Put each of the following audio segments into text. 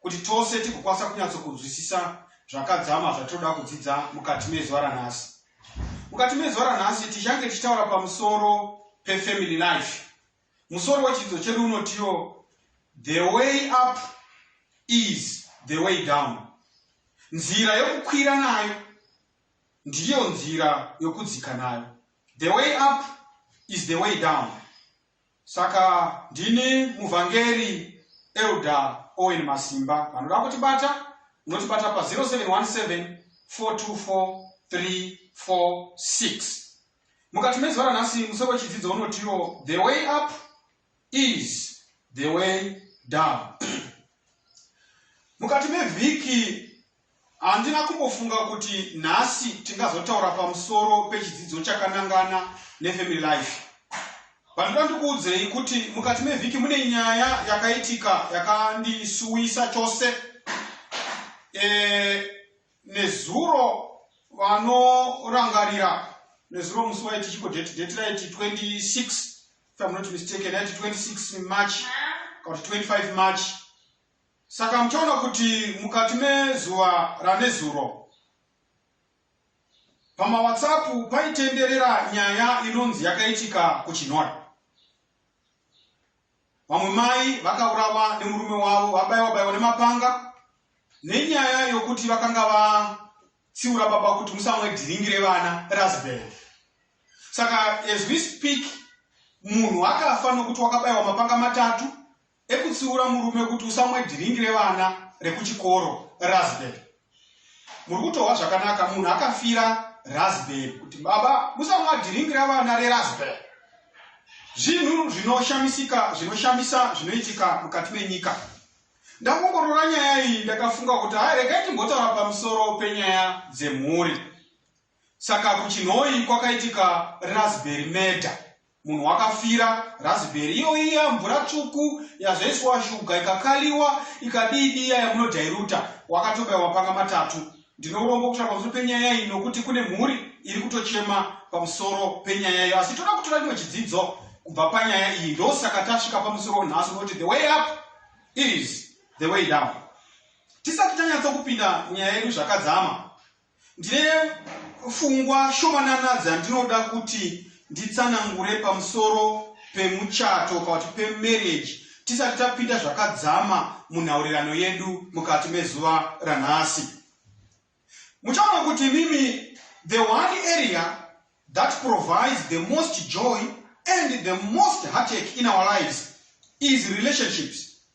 Kuti tose tigokwanisa kunyatsokunzwisisa zvakadzama zvatinoda kudzidza mukati mezuva ranhasi. Mukati mezuva ranhasi tichange tichitaura pamusoro pefamily life. Musoro wechidzidzo chedu unotiwo the way up is the way down. Nzira yokukwira nayo ndiyo nzira yokudzika nayo. The way up is the way down. Saka ndini muvhangeri Elder Owen Masimba. Vanoda kutibata munotibata pa 0717 424 346. Mukati mezuva ranhasi musoro wechidzidzo unotiwo the way up is the way down. Mukati mevhiki Handina kumbofunga kuti nhasi tingazotaura pamusoro pechidzidzo chakanangana neFamily Life. Pandoda ndikuudzei kuti mukati mevhiki mune nyaya yakaitika yakandisuwisa chose. E, nezuro vanorangarira nezuro musi waiti chiko date date raiti 26 if I'm not mistaken, raiti 26 March kana kuti 25 March Saka muchaona kuti mukati mezuva ranezuro pamaWhatsApp paitenderera nyaya inonzi yakaitika kuChinhoyi. Vamwe mai vakaurawa nemurume wavo vabaiwa baiwa nemapanga nenyaya yokuti vakanga vatsiura baba kuti musamwe dhiringi revana rasbel. Saka as we speak munhu akafa nokuti wakabaiwa mapanga matatu ekutsiura murume kuti usamwe dhiringi revana rekuchikoro raspberry muri kutohwa zvakanaka munhu akafira raspberry kuti baba musamwa dhiringi revana reraspberry zvinhu zvinoshamisika zvinoshamisa zvinoitika mukati menyika ndakongorora nyaya iyi ndakafunga kuti hayi regai timbotaura pamusoro penyaya dzemhuri Saka kuChinhoyi kwakaitika raspberry murder. Munhu wakafira raspberry iyoyi iya mvura tsvuku yazoiswa shuga ikakaliwa ikadii dii iya yamunodhairuta wakatobaiwa mapanga matatu. Ndine urombo kutaura pamusoro penyaya iyi nokuti kune mhuri iri kutochema pamusoro penyaya iyo asi toda kutora chimwe chidzidzo kubva panyaya iyi ndosaka tasvika pamusoro nhasi unoti the way up is the way down. Tisati tanyatso kupinda nyaya yedu zvakadzama Ndine pfungwa shomanana dzandinoda kuti nditsanangure pamusoro pemuchato kana kuti pemarriage tisati tapinda zvakadzama munhaurirano yedu mukati mezuva ranhasi. Muchaona kuti mimi the one area that provides the most joy and the most heartache in our lives is relationships.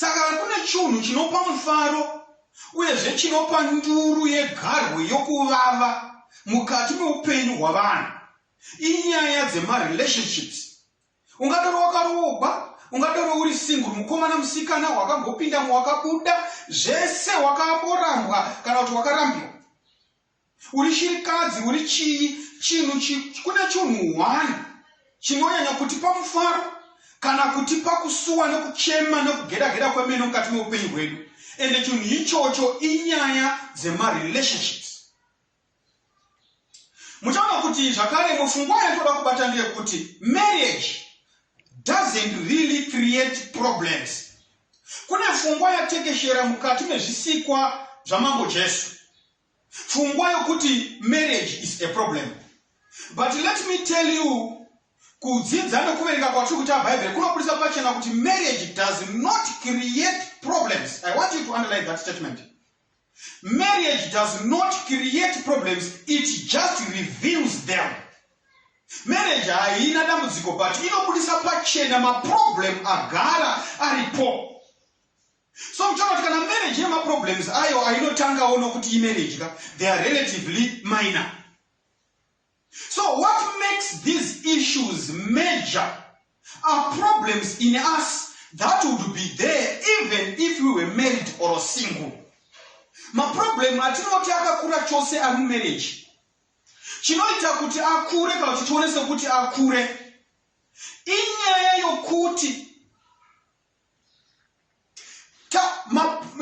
Saka hakuna chunhu chinopa mufaro uyezve chinopa nduru yegarwe yokuvava mukati meupenyu hwavanhu inyaya dzema relationships. Ungadaro wakaroogwa, ungadaro uri single, mukomana, musikana, wakangopindamo, wakabuda, zvese, wakamborambwa kana kuti wakarambiwa. Uri shirikadzi uri chii chinhu chi, kune chunhu one chinonyanya kutipa mufaro kana kutipa kusuwa nekuchema nekugeda geda kwemene mukati meupenyu hwedu ende chinhu ichocho inyaya dzemarelationships muchaona kuti zvakare mufungwa yatoda kubata ndeyekuti marriage doesn't really create problems kune fungwa yatekeshera mukati mezvisikwa zvamambo jesu pfungwa yokuti marriage is a problem but let me tell you kudzidza nekuverenga kwatiri kuita bhaibheri kunobudisa pachena kuti marriage does not create problems i want you to underline that statement marriage does not create problems it just reveals them marriage haina dambudziko but inobudisa pachena maproblem agara aripo So kutaura kuti kana marriage ine maproblems ayo ainotangawo nokuti imarriage ka they are relatively minor. So what makes these issues major are problems in us that would be there even if we were married or single. Maproblem atinoti akakura chose ari mumarriage chinoita kuti akure kana kuti tione sekuti akure inyaya yokuti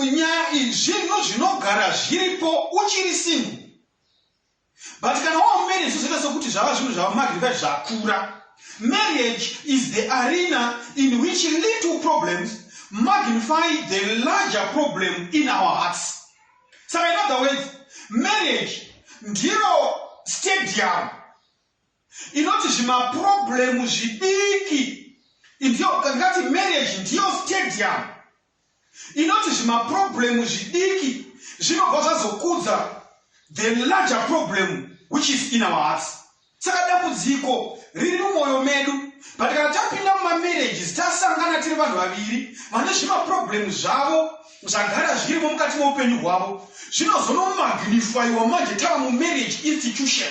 nyaya iyi zvinhu zvinogara zviripo uchiri singu but kana wava marriage zvozoita sokuti zvava zvinhu zvava magrivae zvakura marriage is the arena in which little problems magnify the larger problem in our hearts saka in other words marriage ndiro stadium inoti zvimaproblem zvidiki ndiyo ngati marriage ndiyo stadium inoti zvimaproblem zvidiki zvinobva zvazokudza the larger problem which is in our hearts saka dambudziko riri mumwoyo medu but kana tapinda mumamarriages tasangana tiri vanhu vaviri vane zvimaproblem zvavo zvagara zvirimo mukati meupenyu hwavo zvinozonomagnifyiwa manje tava mumarriage institution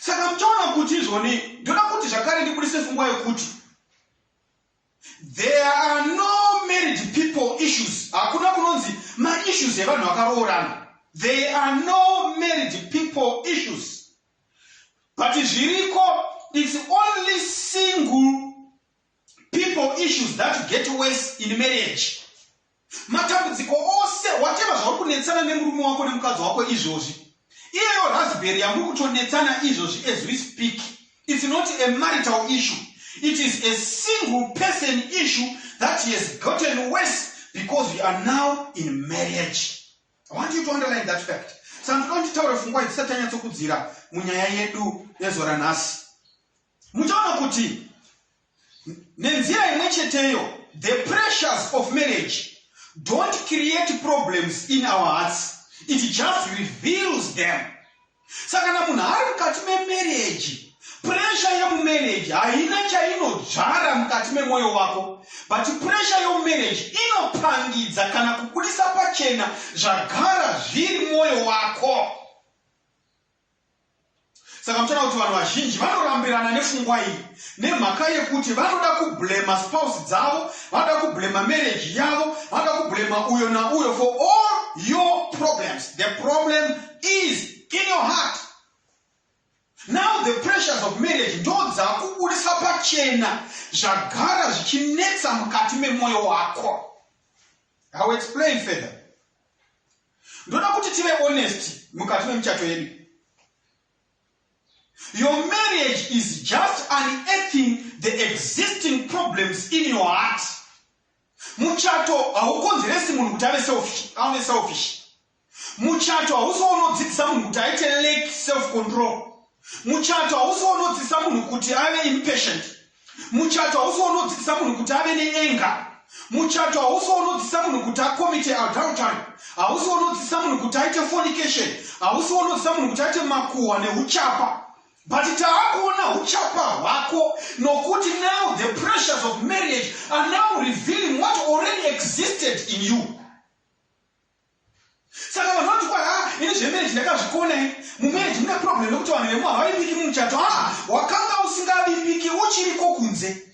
Saka muchaona kuti izvoni ndoda kuti zvakare ndibudise fungwa yekuti there are no married people issues hakuna kunonzi maissues evanhu vakaroorana they are no married people issues but zviriko it's only single people issues that get worse in marriage Matambudziko ose whatever zvauri kunetsana nemurume wako nemukadzi wako izvozvi, iyeyo raspberry yamuri kutonetsana izvozvi as we speak it's not a marital issue it is a single person issue that he has gotten worse because we are now in marriage. I want you to underline that fact. Saka ndinoda nditaure fungwa idzi sati tanyatsokudzira munyaya yedu yezuva ranhasi. Muchaona kuti Nenzira imwe cheteyo, the pressures of marriage don't create problems in our hearts, it just reveals them. Saka kana munhu ari mukati memarriage, pressure yemumarriage haina chainodzvara mukati memwoyo wako, but pressure yemumarriage inopangidza kana kubudisa pachena zvagara zviri mwoyo wako. Saka muchaona kuti vanhu vazhinji vanorambirana nefungwa iyi nemhaka yekuti vanoda kublema spouse dzavo, vanoda kublema marriage yavo, vanoda kublema uyo nauyo for all your problems. The problem is in your heart. Now the pressures of marriage ndodzakubudisa pachena zvagara zvichinetsa mukati memoyo wako. I will explain further. ndoda kuti tive honest mukati memuchato yedu your marriage is just unearthing the existing problems in your heart muchato haukonzeresi munhu kuti ave selfish ave selfish muchato hausi waunodzidzisa munhu kuti aite lake self control muchato hausi waunodzidzisa munhu kuti ave impatient Muchato hausi waunodzidzisa munhu kuti ave neenga. Muchato hausi waunodzidzisa munhu kuti akomite adultery. Hausi waunodzidzisa munhu kuti aite fornication. Hausi waunodzidzisa munhu kuti aite makuhwa neuchapa. But taakuona uchapa hwako nokuti now the pressures of marriage are now revealing what already existed in you. Saka vanhu vanoti kwai haa ini zvemarriage ndakazvikona ini. Mumarriage mune problem yekuti vanhu vemumwe havavimbiki mumuchato. Haa wakanga usingavimbiki uchiriko kunze.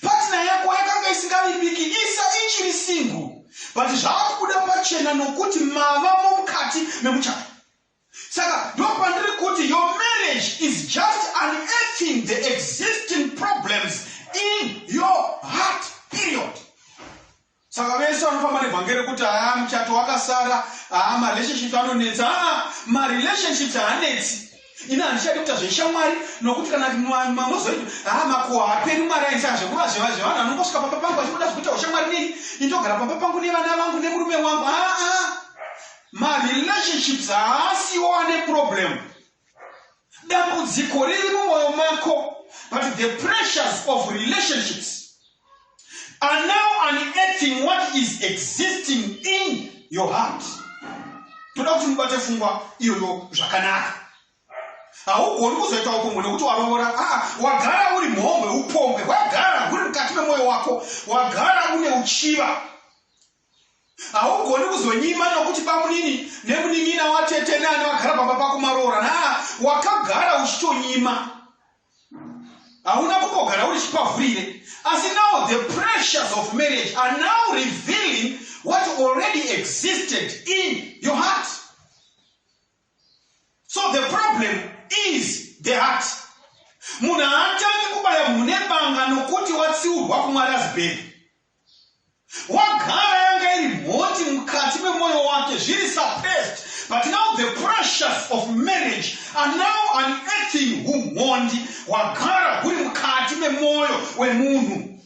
Partner yako yakanga isingavimbiki isa ichiri single but zvaakubuda pachena nokuti mava momukati memuchato. Saka ndopandiri kuti your marriage is just unearthing the existing problems in your heart period. Saka vese vanofamba nevhangeri rekuti haa muchato wakasara, haa marelationships anonetsa. Haa marelationships haanetsi. Ini handichadi kuita zveshamwari nokuti kana mamozoita haa makuhwa haaperi mwari aisaka zvekuva zveva zvevanhu anongosvika pamba pangu achikuda zvekuita ushamwari nei indogara pamba pangu nevana vangu nemurume wangu haa marelationships haasiwo ane problem dambudziko riri mumwoyo mako but the pressures of relationships are now unearthing what is existing in your heart toda kuti mubate fungwa iyoyo zvakanaka haugoni kuzoita upombwe nekuti waroora aa ah, wagara uri mhombwe upombwe hwagara huri mukati memwoyo wako wagara une uchiva haugoni kuzonyima nokuti bamunini nemunin'ina watete neane vagara pamba pako maroora na wakagara uchitonyima hauna kumbogara uri chipavhurire asi now the pressures of marriage are now revealing what already existed in your heart so the problem is the heart munhu haatangi kubaya mhune banga nokuti watsiurwa kumwari azibheri wagara yanga iri mhoti mukati memoyo wake zviri suppressed but now the pressures of marriage are now unearthing humhondi hwagara huri mukati memoyo wemunhu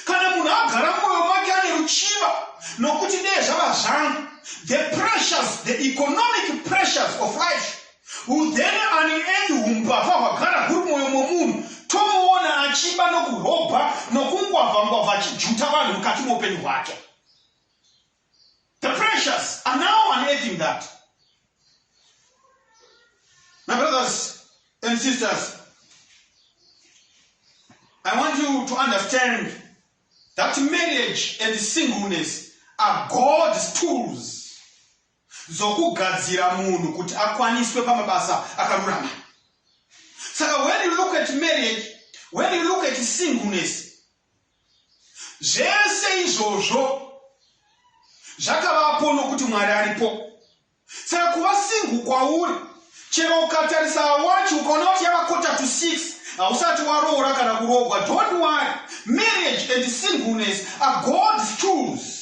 kana munhu agara mumwoyo make ane ruchiva nokuti ndeye zvava zvangu the pressures the economic pressures of life Udhene ani endi humbavha hwagara huri mwoyo momunhu tomuona achiba nokurobha nokungwavha ngwavha achijuta vanhu mukati moupenyu hwake. The precious are now unearthing that. My brothers and sisters, I want you to understand that marriage and singleness are God's tools dzokugadzira munhu kuti akwaniswe pamabasa akarurama. Saka when you look at marriage, when you look at singleness, zvese izvozvo zvakavapo nokuti Mwari aripo. Saka kuva single kwauri, chero ukatarisa wachi ukaona kuti yava quarter to six, hausati waroora kana kurogwa, don't worry. Marriage and singleness are God's tools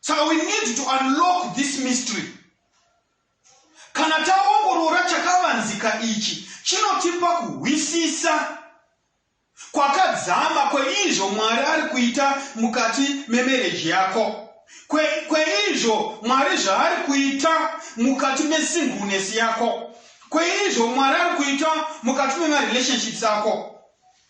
saka we need to unlock this mystery kana taongorora chakavanzika ichi chinotipa kuhwisisa kwakadzama kweizvo mwari ari kuita mukati memereji yako kweizvo kwe mwari zvaari kuita mukati mesingunes yako kweizvo mwari ari kuita mukati memarelationships ako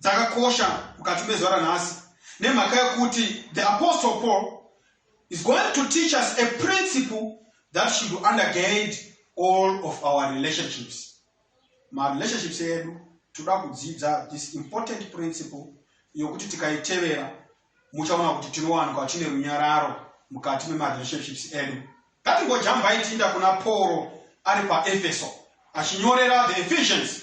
dzakakosha mukati mezuva ranhasi nemhaka yokuti the apostle Paul is going to teach us a principle that should undergird all of our relationships. Marelationships edu toda kudzidza this important principle yokuti tikaitevera muchaona kuti tinowanikwa tine runyararo mukati memarelationships edu. Ngatingojambai tiinda kuna Pauro ari paEfeso achinyorera the Ephesians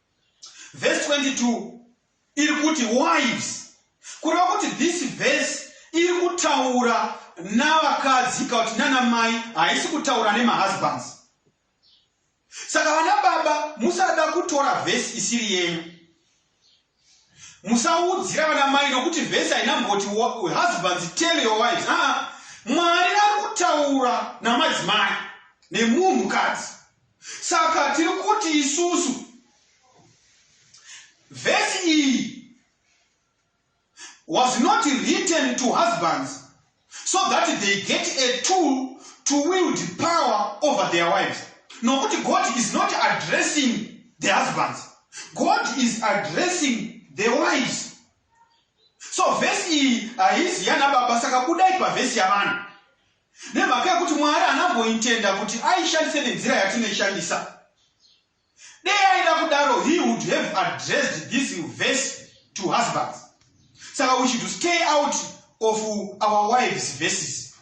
Verse 22 iri kuti wives kureva kuti this verse iri kutaura navakadzi kana kuti nana mai haisi kutaura nemahusbands saka vana baba musada kutora vhesi isiri yenyu musaudzira vana mai nokuti vhesi haina mboti husbands tell your wives aa mwari ari kutaura namadzimai nemunhu kadzi Saka tiri kuti isusu vhesi iyi was not written to husbands so that they get a tool to wield power over their wives nokuti god is not addressing the husbands god is addressing the wives so vhesi iyi haizi yana baba saka budai pavhesi yavana Nemhaka yekuti Mwari haana kumboitenda kuti aishandise nenzira yatinoishandisa. Dei aida kudaro he would have addressed this verse to husbands. Saka we should stay out of our wives verses.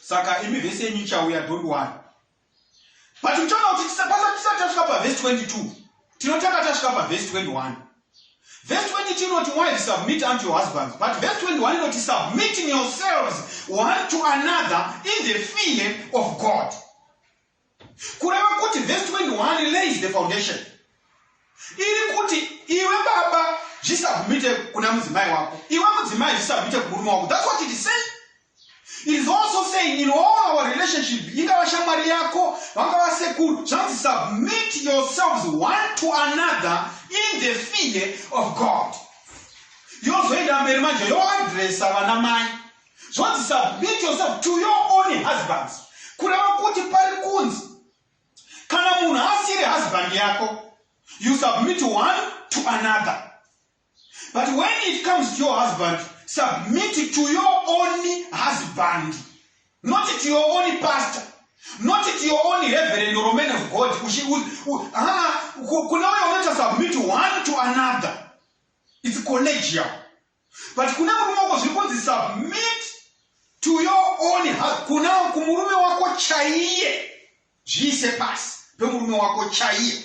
Saka imi vese yenyu ichauya don't worry. but uchaona kuti tisati tasvika pavhesi 22 tinotanga tasvika pavhesi 21 vhesi 22 inoti wife submit unto your husbands but vhesi 21 inoti submitting yourselves one to another in the fear of god kureva kuti vhesi 21 lays the foundation iri kuti iwe baba zvisabvumite kuna mudzimai wako iwe mudzimai zvisabvumite kumurume wako that's what it is saying It is also saying in all our relationship, ingava shamwari yako, vangava sekuru, zvanzi submit yourselves one to another in the fear of God. Yozoenda mberi manje yoadressa vana mai. Zvanzi submit yourself to your own husbands. Kureva kuti pari kunzi kana munhu asiri husband yako, you submit one to another. But when it comes to your husband, submit to your own husband, not to your own pastor, not to your own reverend or man of God. Kuna uyo unoita submit one to another. It's collegial. But kuna murume wako zviri kunzi submit to your own husband. Kuna kumurume wako chaiye. Zviise pasi pemurume wako chaiye.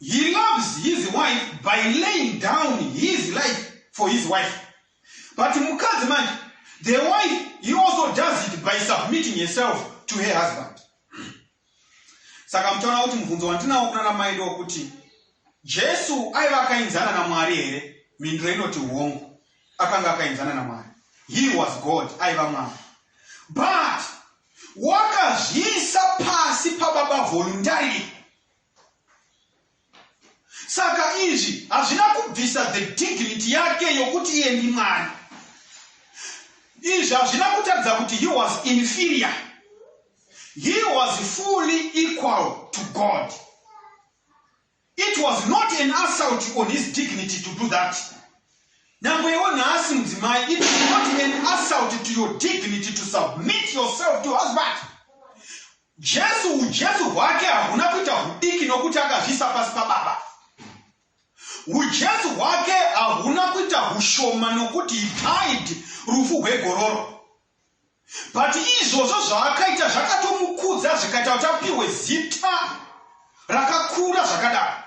He loves his wife by laying down his life for his wife. But mukadzi manje, the wife, he also does it by submitting herself to her husband. Saka mtaona kuti mubvunzo wandinawo kuna namai ndokuti Jesu aiva akainzana naMwari here? Mindro inoti hongu. Akanga akainzana naMwari. He was God, aiva Mwari. But wakazviisa pasi pababa voluntarily Saka izvi hazvina kubvisa the dignity yake yokuti iye ndiMwari. Izvi hazvina kutaridza kuti he was inferior. He was fully equal to God. It was not an assault on his dignity to do that. Nyangwe iwo nhasi mudzimai, it is not an assault to your dignity to submit yourself to husband. Jesu uJesu hwake hahuna kuita hudiki nokuti akazviisa pasi paBaba. Ujesu hwake hahuna kuita hushoma nokuti he died rufu hwegororo. But izvozvo zvaakaita zvakatomukudza zvikaita kuti apihwe zita rakakura zvakadaro.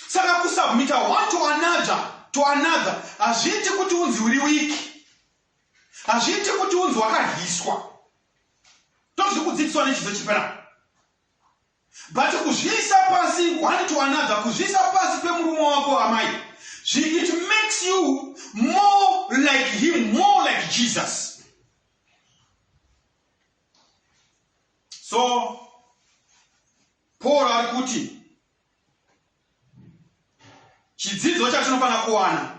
Saka kusubmita one to another to another hazviiti kuti unzi uri wiki. Hazviite kuti unzi wakahiswa. Tozvi kudzidziswa nechidzo chipi na? But kuzviisa pasi one to another, kuzviisa pasi pemurume wako amai, it makes you more like him, more like Jesus. So Paul ari kuti chidzidzo chatinofanira kuwana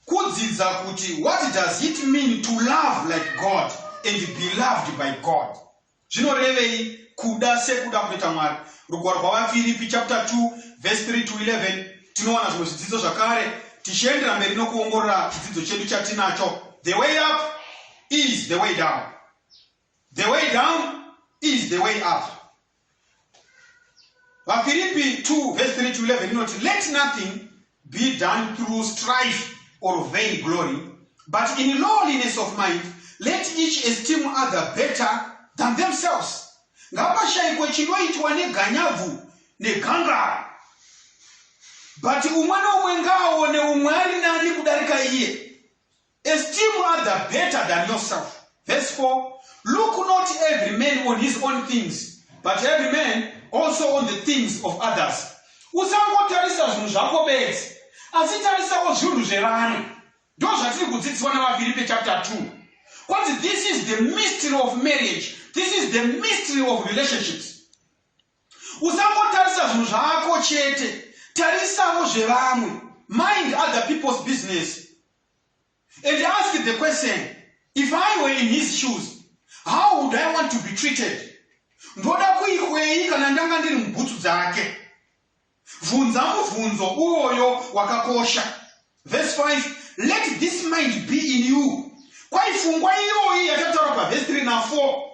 kudzidza kuti what does it mean to love like god and be loved by god zvinorevei kuda sekuda kunoita mwari rugwaro rwavafiripi chapter 2 verse 3 to 11 tinowana zvimwe zvidzidzo zvakare tichiendera mberi nokuongorora chidzidzo chedu chatinacho the way up is the way down The way down is the way up. VaFiripi 2 verse 3 to 11 inoti, Let nothing be done through strife or vain glory, but in lowliness of mind, let each esteem other better than themselves. Ngapashayikwe chinoitwa neganyabvu negangara but umwe noumwe ngaaone umwe ari nani kudarika iye Esteem other better than yourself. Verse 4 Look not every man on his own things, but every man also on the things of others. Usangotarisa zvinhu zvako bedzi, asi tarisawo zvinhu zvevamwe. Ndo zvatiri kudzidziswa navaFiripi chapter 2. Kwanzi this is the mystery of marriage. This is the mystery of relationships. Usangotarisa zvinhu zvako chete, tarisawo zvevamwe. Mind other people's business. and ask the question if i were in his shoes how would i want to be treated ndoda kuikwei kana ndanga ndiri mubhutsu dzake bvunza mubvunzo uyoyo wakakosha verse 5 let this mind be in you kwaipfungwa iyoyi yatataura pavhesi 3 na 4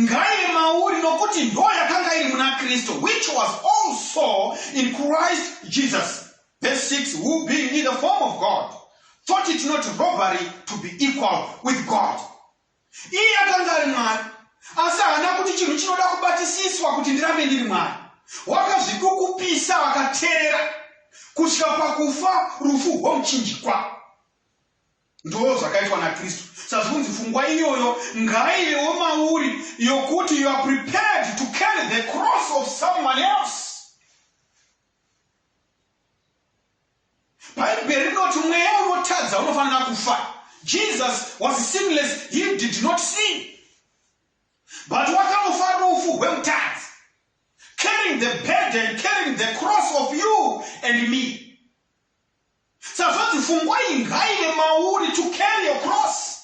ngaive mauri nokuti ndo yakanga iri muna kristu which was also in christ jesus verse 6 who being in the form of god thought it not robbery to be equal with god iye akanga ari mwari asi haana kuti chinhu chinoda kubatisiswa kuti ndirambe ndiri mwari wakazvikukupisa akateerera kusvika pakufa rufu rwomuchinjikwa ndoo zvakaitwa nakristu sazvi kunzi fungwa iyoyo ngaivewo mauri yokuti you are prepared to carry the cross of someone else bhaibheri rinoti mweya unotadza unofanira kufa jesus was sinless he did not sin but wakanofa rufu rwemutadzi carrying the burden carrying the cross of you and me Sazvanzi fungwa iyi ngaive mauri to carry your cross.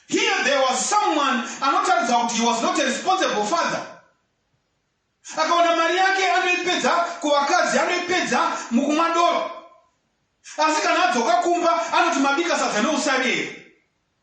Here there was someone anotaridza kuti he was not a responsible father. Akawana mari yake anoipedza kuvakadzi anoipedza mukumwa doro. Asi kana adzoka kumba anoti mabika sadza neusavi here?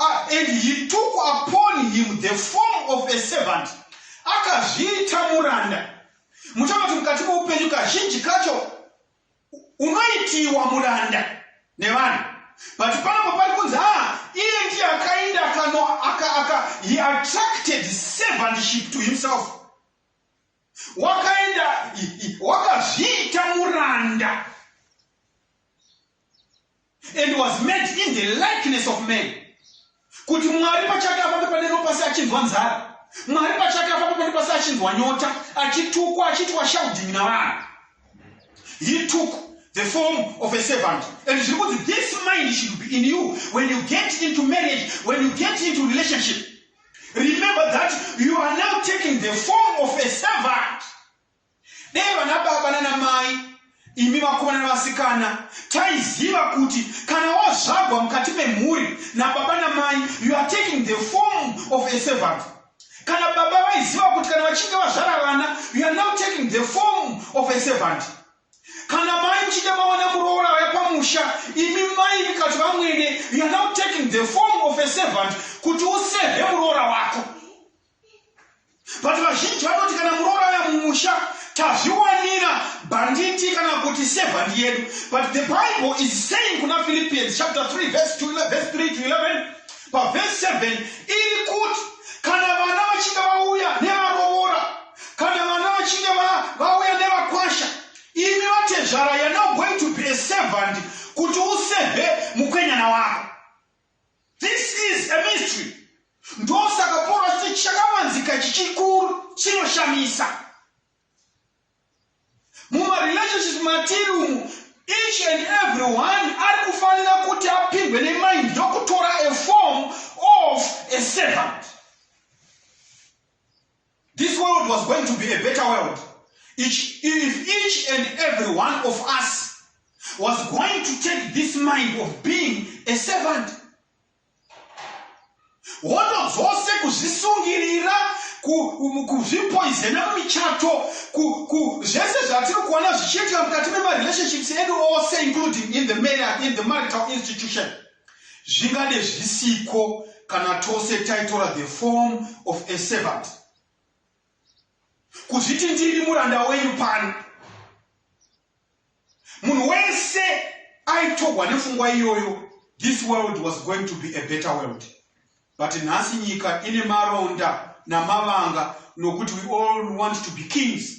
Ah, and he took upon him the form of a servant akazviita muranda muchava kuti mukati moupenyu kazhinji kacho unoitiwa muranda nevanhu but panapo pari kunzi ha ah, iye ndiye akainda kano akaaka he attracted servantship to himself wakaenda wakazviita muranda and was made in the likeness of man kuti mwari pachake apapo panero pasi achinzwa nzara mwari pachake apapo panero pasi achinzwa nyota achitukwa achiitwa shouding navanhu he took the form of a servant and zviri kunzi this mind should be in you when you get into marriage when you get into relationship remember that you are now taking the form of a servant Dai vana baba nana mai imi vakomana nevasikana taiziva kuti kana wazvagwa mukati memhuri nababa namai you are taking the form of a servant kana baba vaiziva kuti kana vachinge vazvara vana you are now taking the form of a servant kana mai muchinge mawana muroora vaya pamusha imi mai vikati vamwene you are now taking the form of a servant kuti usevhe muroora wako but vazhinji vanoti kana muroorana mumusha tazviwanira bhanditi kana kuti sevhandi yedu but the bible is saying kuna philippians chapter 3 verse 2 verse 3 to 11 pavhesi 7 iri kuti kana vana vachinge vauya nevaroora kana vana vachinge vauya nevakwasha imi vatezvara you're not going to be a servant kuti useve mukwenyana wako This is a mystery. Ndosaka Paul achiti chakavanzika chichikuru chinoshamisa. Mumarelationships matiri umu, each and every one ari kufanira kuti apindwe nemind ndokutora a form of a servant. This world was going to be a better world each, if each and every one of us was going to take this mind of being a servant hondo dzose kuzvisungirira kuzvipoizena mumichato zvese zvatiri kuona zvichiitika mukati memarelationships edu ose including in the, in the marital institution Zvingade zvisiko kana tose taitora the form of a servant. Kuzviti ndiri muranda wenyu pano. Munhu wese aitogwa nefungwa iyoyo this world was going to be a better world but nhasi nyika ine maronda namavanga nokuti we all want to be kings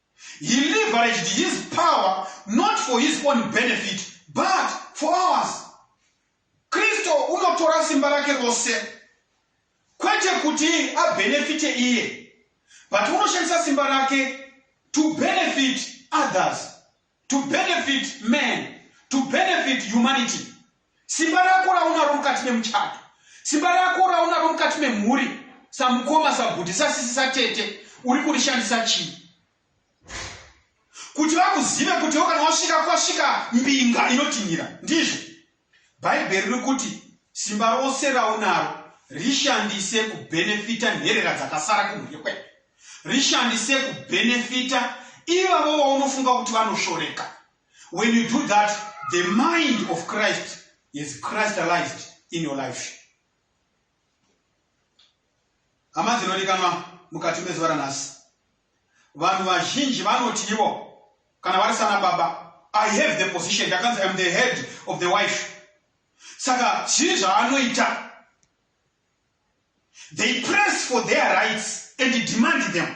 He leveraged his power not for his own benefit but for ours. Kristo unotora simba rake rose kwete kuti abenefite iye but unoshandisa simba rake to benefit others. To benefit man, to benefit humanity. Simba rako raunaro mukati memuchato, simba rako raunaro mukati memhuri, samukoma, sabhudhi, sasisi, satete, uri kurishandisa chii? Kuti vakuzive kuti iwo kana wasvika kwasvika mbinga inotinhira, ndizvo Bhaibheri riri kuti, Simba rose raunaro rishandise kubhenefita nherera dzakasara kumhuri kwedu. Rishandise kubhenefita ivavo vaunofunga kuti vanoshoreka. When you do that, the mind of Christ is Christalized in your life. Hama dzinodikanwa mukati mezuva ranhasi, vanhu vazhinji vanoti ivo kana vari sana baba, I have the position, ndakanzi I'm the head of the wife. Saka zviri zvaanoita, they press for their rights and demand them.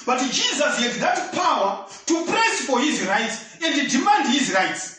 But Jesus had that power to press for his rights and demand his rights.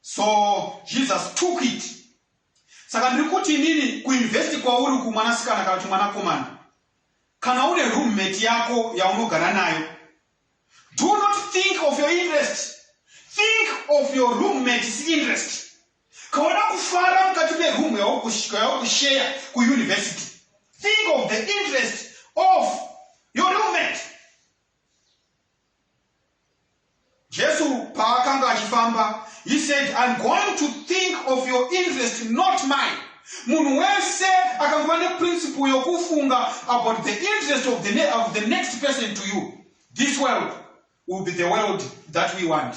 so jesus took it saka ndiri kuti inini kuinvesti kwauri uku mwanasikana kana kuti mwanakomana kana une roommate yako yaunogara nayo do not think of your interest think of your roommates interest kaona kufara mukati meroom yaukusheya kuuniversity think of the interest of your roommate Jesu paakanga achifamba, he said, I'm going to think of your interest, not mine. Munhu wese akanguva neprinciple yokufunga about the interest of the, ne of the next person to you. This world will be the world that we want.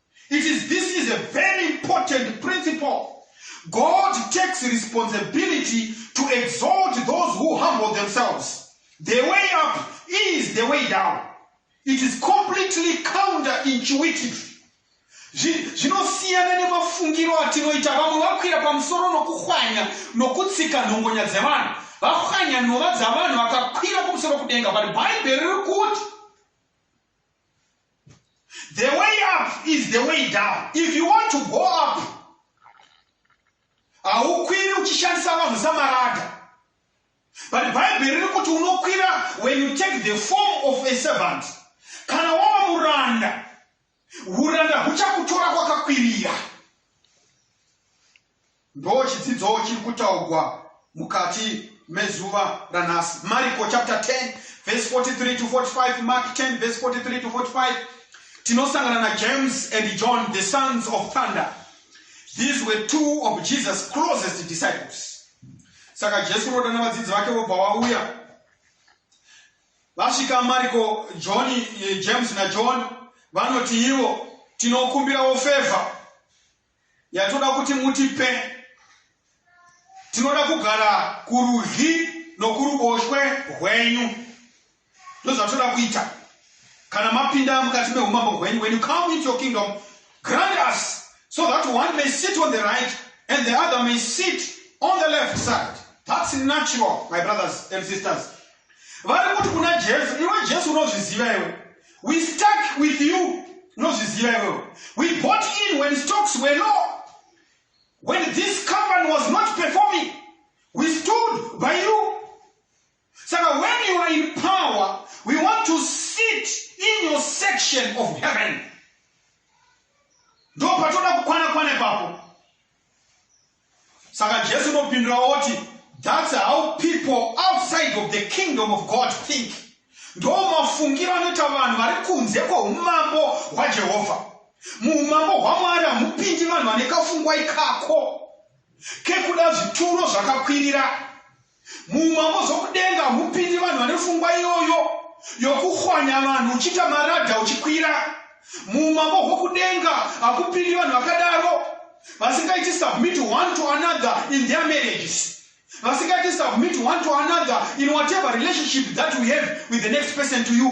It is this is a very important principle. God takes responsibility to exalt those who humble themselves. The way up is the way down. It is completely counterintuitive. Zvinosiyana nemafungiro atinoita vamwe vakwira pamusoro nokuhwanya nokutsika nhongonya dzevanhu. Vahwanya nhova dzavanhu vakakwira kumusoro kudenga, but Bible riri kuti The way up is the way down. If you want to go up, haukwiri uchishandisa vanhu samarada. But Bible riri kuti unokwira when you take the form of a servant. Kana wava muranda, uranda huchakutora kwakakwirira. Ndochidzidzo chiri kutaugwa mukati mezuva ranhasi. Mariko chapter 10 verse 43 to 45, Mark 10 verse 43 to 45. Tinosangana na James and John, the sons of thunder. These were two of Jesus' closest disciples. Saka Jesu rodana vadzidzi vake vobva vauya. Vasvika Mariko, John, eh, James na John vanoti ivo tinokumbirawo favor yatoda kuti mutipe tinoda kugara kurudyi nokuruboshwe rwenyu ndozvatoda kuita kana mapinda mukati meumambo hwenyu when you come into your kingdom grant us so that one may sit on the right and the other may sit on the left side that's natural my brothers and sisters vari kuti kuna jesu iwe jesu unozviziva iwe we stuck with you unozviziva iwewe we bought in when stocks were low when this company was not performing we stood by you saka when you are in power we want to sit in your section of heaven ndo patoda kukwana kwana ipapo Saka Jesu unopindura oti, That's how people outside of the kingdom of God think. Ndo mafungiro anoita vanhu vari kunze kweumambo hwaJehovha. Muumambo hwaMwari hamupindi vanhu vane kafungwa ikako kekuda zvituro zvakakwirira. Muumambo zvokudenga hamupindi vanhu vane fungwa iyoyo yokuhwanya vanhu uchiita maradha uchikwira. Muumambo hwokudenga hakupindi vanhu vakadaro vasingaiti submit one to another in their marriages vasingaiti submit one to another in whatever relationship that we have with the next person to you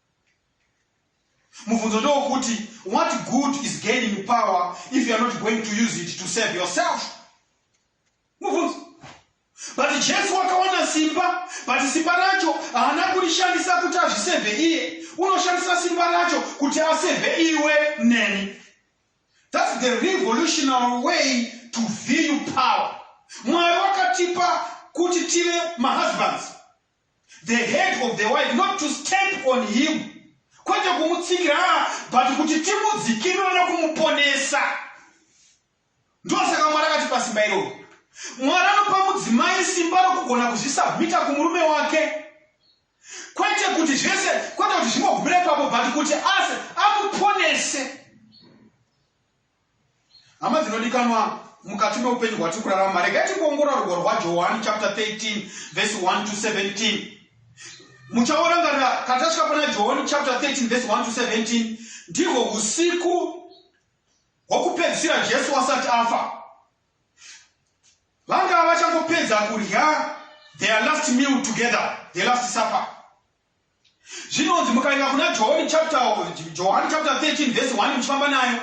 mubvunzo ndowokuti what good is gaining power if youare not going to use it to serve yourself mubvunzo but jesu wakawana simba but simba racho haana kurishandisa kuti azvisevhe iye unoshandisa simba racho kuti asevhe iwe neni thats the revolutionary way to view power mwari wakatipa kuti tive mahusbands the head of the wife not to stamp on him kwete kumutsikira ah, but kuti timudzikirira nekumuponesa ndosaka mwari akati pasimba iroro mwari anopa mudzimai simba rokugona kuzvisabmita kumurume wake kwete kuti zvese kwete kuti zvingogumira ipapo but kuti ase amuponese Hama dzinodikanwa mukati meupenyu hwatiri kurarama, regai tingoongorora rugwaro rwaJohani chapter 13 verse 1 to 17. Muchaorangarira kana tasvika pana Johani chapter 13 verse 1 to 17, ndihwo usiku hwokupedzisira Jesu asati afa. Vanga vachangopedza kurya their last meal together, their last supper. Zvinonzi mukaenda kuna John chapter Johani chapter 13 verse 1 muchifamba nayo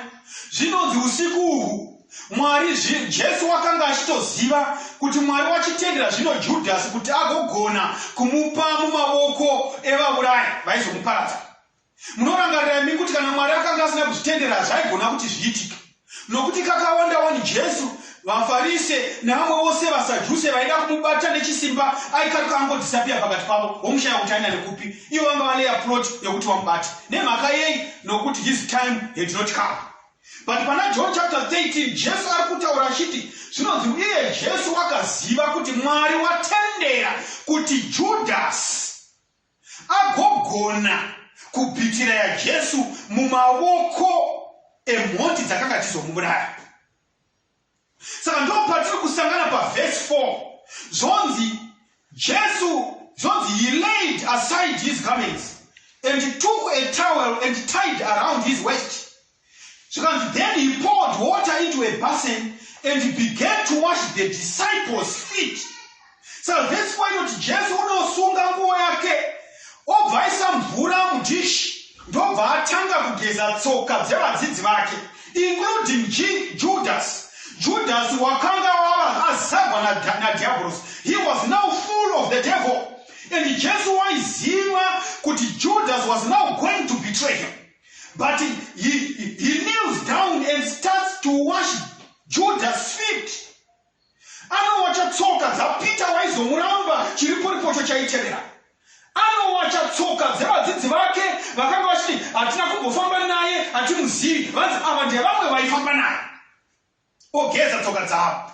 zvinonzi usiku uhu Mwari Jesu wakanga achitoziva kuti Mwari wachitendera zvino Judhasi kuti agogona kumupa mumavoko evaurayi vaizomuparadza. Munorangarira imi kuti kana Mwari akanga asina kuzvitendera zvaigona kuti zviitike. Nokuti kakawanda wani Jesu, vaFarise nevamwe vose vaSadhuse vaida kumubata nechisimba aikaruka angodhisapiya pakati pavo womushaya kuti aina nekupi. Ivo vanga valeya plot yekuti vamubate. Nemhaka yei? Nokuti his time had not come. But pana John chapter 13 Jesu ari kutaura achiti zvinonzi uye Jesu wakaziva kuti Mwari watendera kuti Judhasi agogona kubitira yaJesu mumaoko emhondi dzakanga dzichizomubiraya. Saka ndipo patiri kusangana pavhesi 4 zvonzi Jesu zvonzi he laid aside his garments and took a towel and tied around his waist Zvikanzi, Then he poured water into a basin and he began to wash the disciples' feet. Saka vhesi fo inoti Jesu unosunga nguvo yake obva aisa mvura mudhishi ndobva atanga kugeza tsoka dzevadzidzi vake including Judas. Judas wakanga wava azagwa nadhiabhorosi. He was now full of the devil and Jesu waiziva kuti Judas was now going to betray him. But he, he, he kneels down and starts to wash Judas feet. Anowacha tsoka dzaPeter waizomuramba chiriporipocho chaitevera. Anowacha tsoka dzevadzidzi vake vakanga vachiti hatina kumbofamba naye hatimuzivi vanzi ava ndevamwe vaifamba naye. Ogeza tsoka dzavo.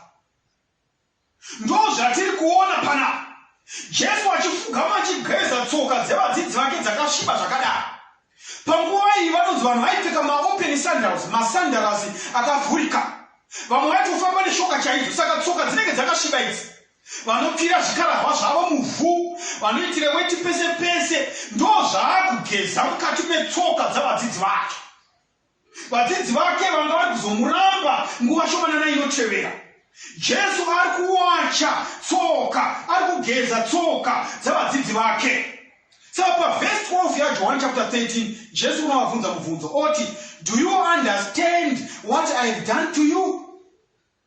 Ndozvatiri kuona panapa. Jesu achifugama achigeza tsoka dzevadzidzi vake dzakasviba zvakadaro. Panguva iyi vanonzi vanhu vaipfeka maopen sandals, masandarasi akavhurika. Vamwe vaitofamba neshoka chaidzo, saka tsoka dzinenge dzakasviba idzi. Vanopfira zvikarahwa zvavo muvhu, vanoitira weti pese pese, ndozvaakugeza mukati metsoka dzavadzidzi vake. Vadzidzi vake vanga vari kuzomuramba nguva shomanana inotevera. Jesu ari kuwacha tsoka, ari kugeza tsoka dzavadzidzi vake. Saka pavhesi 12 yaJohani chapter 13, Jesu unovabvunza mubvunzo oti, Do you understand what I have done to you?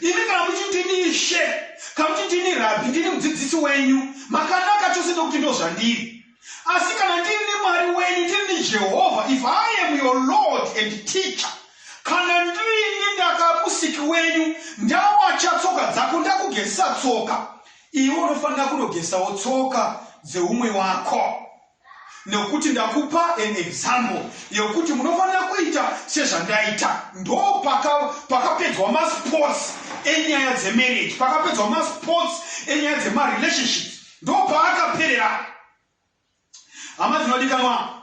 Imi kana muchiti ndini ishe, kana muchiti ndini rabhi, ndini mudzidzisi wenyu, makanaka chose ndokuti ndozvandiri. Asi kana ndini Mwari wenyu, ndini Jehovha, if I am your Lord and teacher, kana ndini ndakamusiki wenyu, ndawacha tsoka dzako, ndakugezesa tsoka, iwe unofanira kunogesawo tsoka dzeumwe wako. nekuti ndakupa an example yekuti munofanira kuita sezvandaita ndo pakapedzwa paka masports enyaya dzemarriage pakapedzwa masports enyaya dzemarelationships ndo paakaperera hama dzinodikanwa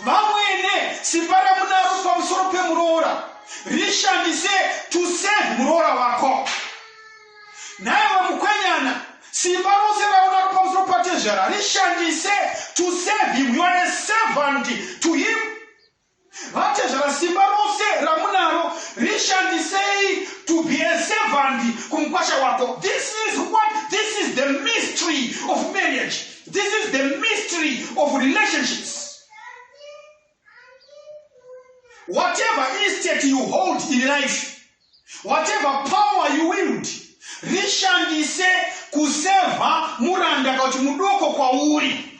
vamwene simba ramunaro pamusoro pemuroora rishandise to save muroora wako naye vamukwenyana simba rose raunaro pamusoro patezvara rishandise to save him you are a servant to him vatezvara simba rose ramunaro rishandisei to be a servant kumukwasha wako this is what this is the mystery of marriage This is the mystery of relationships. Whatever estate you hold in life, whatever power you wield, rishandise kuseva muranda kuti mudoko kwauri.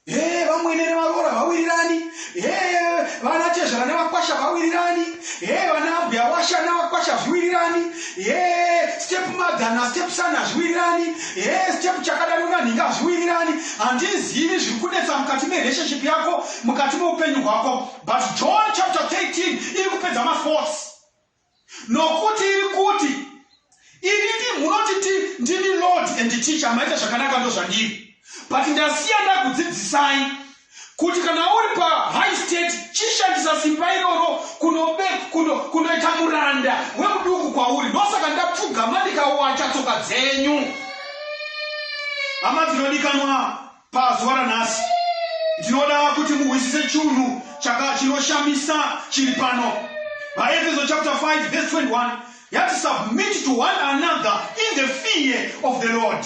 Hey, vamwene nevaroora vawirirani hey, vana chezvara nevakwasha vawirirani hey, vana abhuya washa nevakwasha zviwirirani hee step mother nastep son hazviwirirani hee step chakada nonanhinga hazviwirirani handizivi zviri kunetsa mukati merelationship yako mukati meupenyu hwako but john chapter 13 iri kupedza masports nokuti iri kuti ini ndi munoti ti ndini lord and teacher maita zvakanaka ndozvandiri but ndasiya ndakudzidzisai kuti kana uri pa high state chishandisa simba iroro kunobe kuno kunoita muranda wemuduku kwauri ndosaka ndapfugama ndikawacha tsoka dzenyu hama dzinodikanwa pazuva ranhasi ndinoda kuti muhwisise chunhu chaka chinoshamisa chiri pano vaefeso chapter 5 verse 21 yati submit to one another in the fear of the lord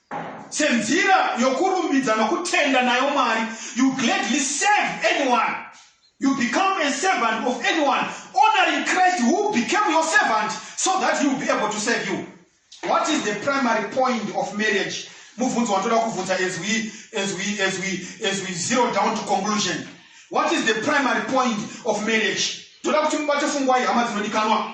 senzira yokurumbidza nokutenda nayo Mwari. You gladly serve anyone. You become a servant of anyone, honoring Christ who became your servant so that he will be able to serve you. What is the primary point of marriage? Mubvunzo watoda kubvunza as we, as, we, as, we, as we zero down to conclusion. What is the primary point of marriage? Toda kuti mubate fungwai hama dzinodikanwa.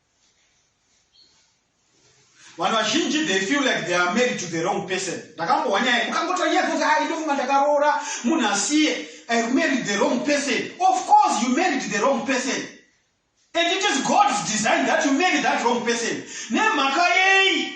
vanhu vazhinji they feel like they are married to the wrong person ndakambohwa nyaya ukangotora nyaya dzoti hai ndofunga ndakaroora munhu asiye i married the wrong person of course you married the wrong person and it is god's design that you marry that wrong person nemhaka yei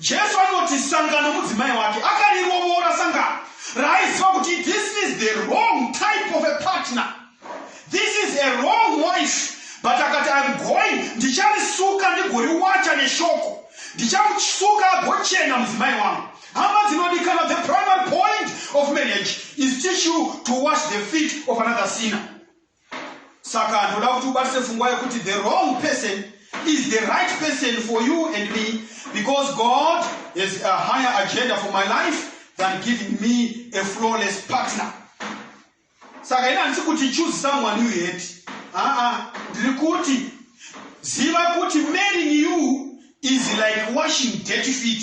Jesu anoti sangano mudzimai wake akarirovora sangano raaiziva kuti this is the wrong type of a partner this is a wrong wife but akati im going ndicharisuka ndigoriwacha neshoko ndichamusuka agochena mudzimai wangu hama dzinodikana the primary point of marriage is teach you to wash the feet of another sinner saka ndoda kuti ubatise fungwa yekuti the wrong person is the right person for you and me because god has a higher agenda for my life than giving me a flawless partner saka ina handisi kuti choose someone you hate aa ndiri kuti ziva kuti marrying you is like washing dirty feet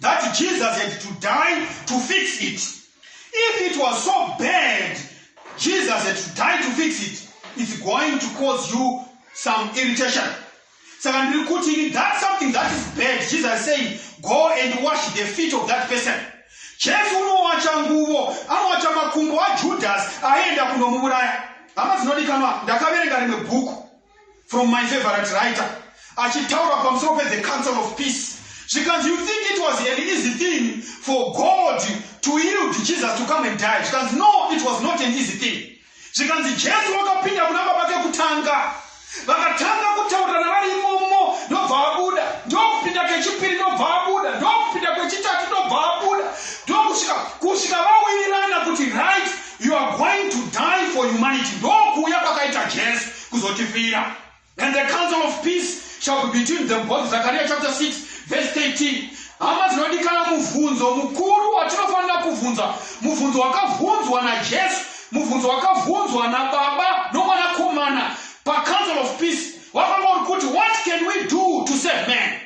that Jesus had to die to fix it. If it was so bad, Jesus had to die to fix it. It's going to cause you some irritation. Saka ndiri kuti that's something that is bad. Jesus saying, go and wash the feet of that person. Jesu unowacha nguvo, anowacha makumbo aJudas aenda kunomuuraya. Hama dzinodikanwa, ndakaverenga rimwe bhuku from my favorite writer achitaura pamusoro pethe council of peace zvikanzi you think it was an easy thing for god to yield jesus to come and die zvikanzi no it was not an easy thing zvikanzi jesu wakapinda kuna baba kekutanga vakatanga kutaurirana vari imomo ndobva vabuda ndokupinda kechipiri ndobva vabuda ndokupinda kwechitatu ndobva vabuda ndokusvika kusvika vawirirana kuti right You are going to die for humanity. Ndokuuya kwakaita Jesu kuzotifira. And the council of peace shall be between them both. Zechariah chapter 6 verse 13. Hama dzinodikana mubvunzo mukuru watinofanira kubvunza. Mubvunzo wakabvunzwa naJesu. Mubvunzo wakabvunzwa naBaba noMwanakomana pacouncil of peace. Wakanga uri kuti what can we do to save man?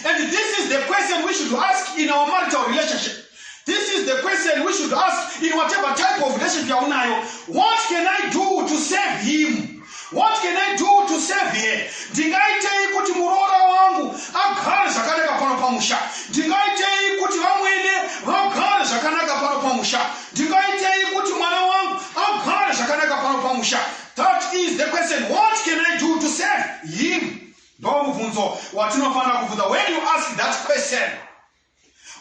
And this is the question we should ask in our marital relationship. This is the question we should ask in whatever type of relationship yaunayo. What can I do to save him? What can I do to save her? Ndingaitei kuti muroora wangu agare zvakanaka pano pamusha? Ndingaitei kuti vamwene vagare zvakanaka pano pamusha? Ndingaitei kuti mwana wangu agare zvakanaka pano pamusha? That is the question. What can I do to save him? Ndomubvunzo watinofanira kubvunza. When you ask that question,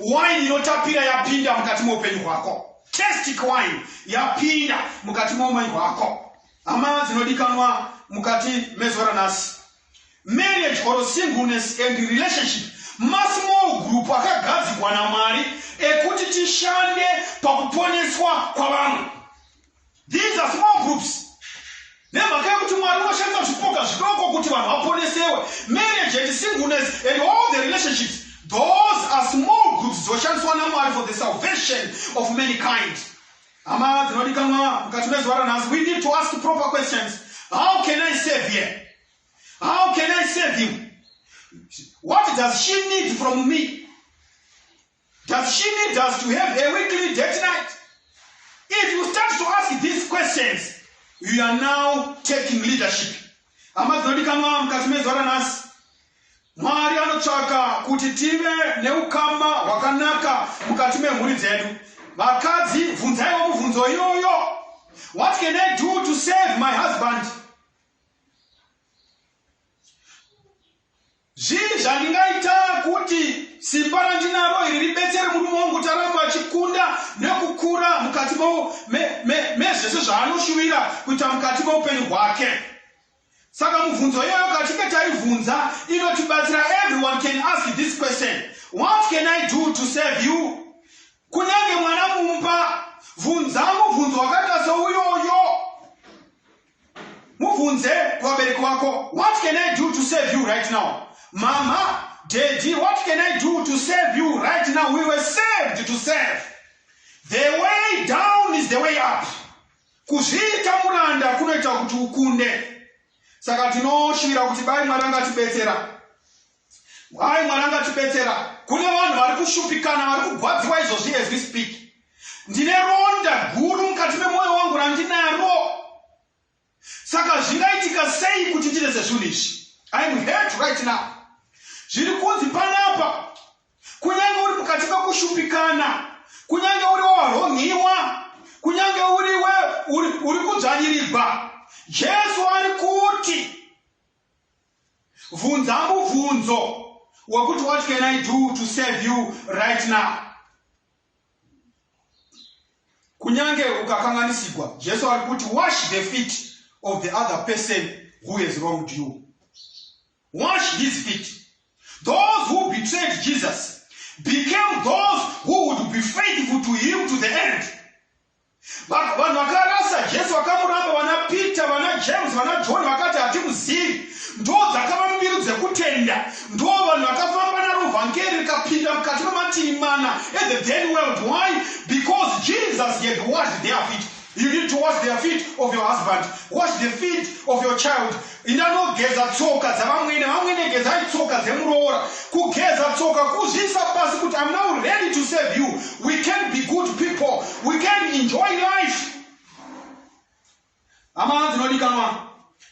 wine inotapira yapinda mukati meupenyu hwako. Testic wine yapinda mukati meumanyi hwako. Hama dzinodikanwa mukati mezuva ranhasi. Marriage or singleness and relationship masmall group akagadzikwa namwari ekuti tishande pakuponeswa kwavamwe These are small groups. nemhaka yekuti mwari unoshandisa zvipoka zvidoko kuti vanhu vaponesewe marriage and singleness and all the relationships those are small groups dzinoshandiswa namwari for the salvation of mankind hama dzinodikanwa mukati mezuva ranhasi we need to ask proper questions how can i save here how can i save him what does she need from me Does she need us to have a weekly date night? If you start to ask these questions, you are now taking leadership. Hama dzinodikanwa mukati mezuva ranhasi, Mwari anotsvaka kuti tive neukama hwakanaka mukati memhuri dzedu. Vakadzi, bvunzaiwo mubvunzo iyoyo. What can I do to save my husband? Zvii zvandingaita kuti simba randinaro iri ribetsere murume wangu kuti arambe achikunda nekukura mukati mezvese zvaanoshuvira kuita mukati meupenyu hwake? Saka mubvunzo iyoyo katinge taivhunza inotibatsira. Everyone can ask this question. What can I do to serve you? Kunyange mwana mumba, vhunza mubvunzo wakata souyoyo. mubvunze kuvabereki wako what can i do to save you right now mama daddy what can i do to save you right now we were saved to serve the way down is the way up kuzviita muranda kunoita kuti ukunde saka tinoshuvira kuti bai mwari angatibetsera Why Mwari angatibetsera. Kune vanhu vari kushupikana, vari kugwadziwa izvozvi as we speak. Ndine ronda guru mukati memwoyo wangu randinaro. Saka zvingaitika sei kuti tirese zvinhu izvi? I am hurt right now. Zviri kunzi panapa, kunyange uri mukati mekushupikana, kunyange uri waronhiwa, kunyange uriwe uri kudzvanyirirwa, Jesu ari kuti Vhunza muvhunzo wekuti what can I do to serve you right now? Kunyange ukakanganisigwa, Jesu ari kuti wash the feet of the other person who has wronged you. Wash his feet. Those who betrayed Jesus became those who would be faithful to him to the end. Vanhu vakarasa Jesu vakamuramba, vana Peter, vana James, vana John vakati hatimuzivi. Ndo dzakava mbiru dzekutenda, ndo vanhu vakafamba naro vhangeri rikapinda mukati memativi mana the then world. Why? Because Jesus had washed their feet. You need to wash their feet of your husband, wash the feet of your child. Inda unogeza tsoka dzavamwene. Vamwene gezai tsoka dzemuroora. Kugeza tsoka kuzviisa pasi kuti I'm now ready to serve you. We can be good people. We can enjoy life. Hama dzinodikanwa,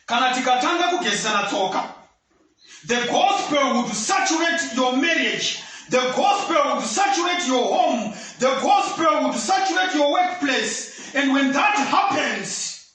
kana tikatanga kugezesana tsoka, the gospel would saturate your marriage The gospel would saturate your home. The gospel would saturate your workplace. And when that happens,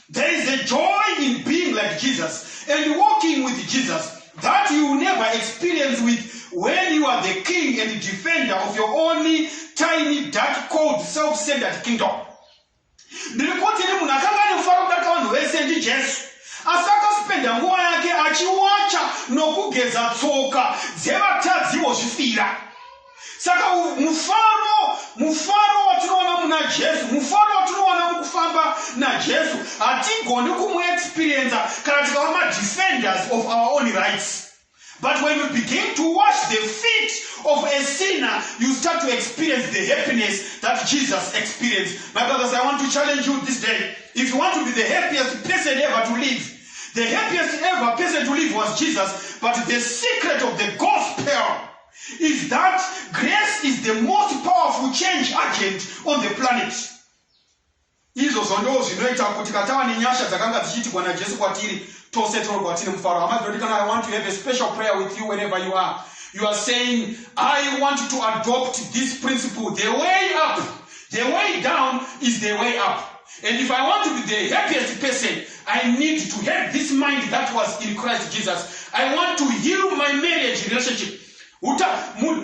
There is a joy in being like Jesus and walking with Jesus that you will never experience with when you are the king and defender of your own tiny dark cold self-centered kingdom. Ndiri kuti ni munhu akanga ane mufaro kudarika vanhu vese ndi Jesu. Asi akaspenda nguva yake achiwacha nokugeza tsoka dzevatadziwo zvifira. saka mufaro mufaro watinoona muna jesu mufaro watinoona mukufamba najesu hatigoni kumuexperienza kana tikava madefenders of our own rights but when you begin to wash the feet of a sinner you start to experience the happiness that jesus experienced my brothers i want to challenge you this day if you want to be the happiest person ever to live the happiest ever person to live was jesus but the secret of the gospel is that grace is the most powerful change agent on the planet izvozvo ndo zvinoita kuti katava nenyasha dzakanga dzichiitigwa najesu kwatiri tose torwa tine mufaro hama dzinoti kana i want to have a special prayer with you wherever you are you are saying i want to adopt this principle the way up the way down is the way up And if I want to be the happiest person, I need to have this mind that was in Christ Jesus. I want to heal my marriage relationship. Uta,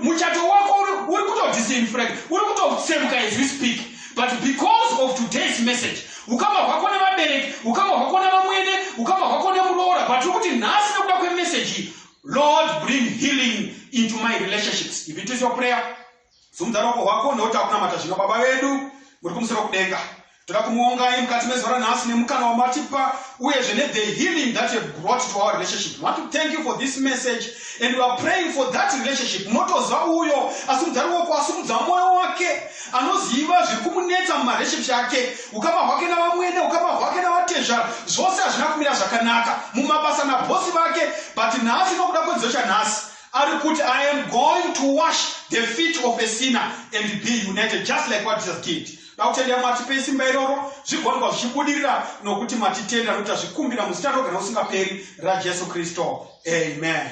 muchato wako uri kutodisinfrag, uri kutotsemuka as we speak. But because of today's message, ukama hwako nevabereki, ukama hwako nevamwene, ukama hwako nemuroora, but uri kuti nhasi nekuda kwemessage, Lord, bring healing into my relationships. If it is your prayer, Simudza ruoko rwako nekuti takunamata zvino. Baba vedu muri kumusoro kudenga, toda kumuongai mukati mezuva ranhasi nemukana wamatipa uyezve ne the healing that you have brought to our relationship. We want to thank you for this message and we are praying for that relationship. Motoziva uyo asimudza ruoko, asimudza mwoyo wake, anoziva zviri kumunetsa mumarelationship yake, ukama hwake navamwene, ukama hwake navatezvara, zvose hazvina kumira zvakanaka mumabasa nabhosi vake, but nhasi nokuda kwedzidzo chanhasi Ari kuti I am going to wash the feet of a sinner and be united just like what Jesus did. Dakutenda mwatipe simba iroro zvigonwa zvichibudirira nokuti matitenda nokuti azvikumbira muzita rogara usingaperi raJesu Kristo. Amen.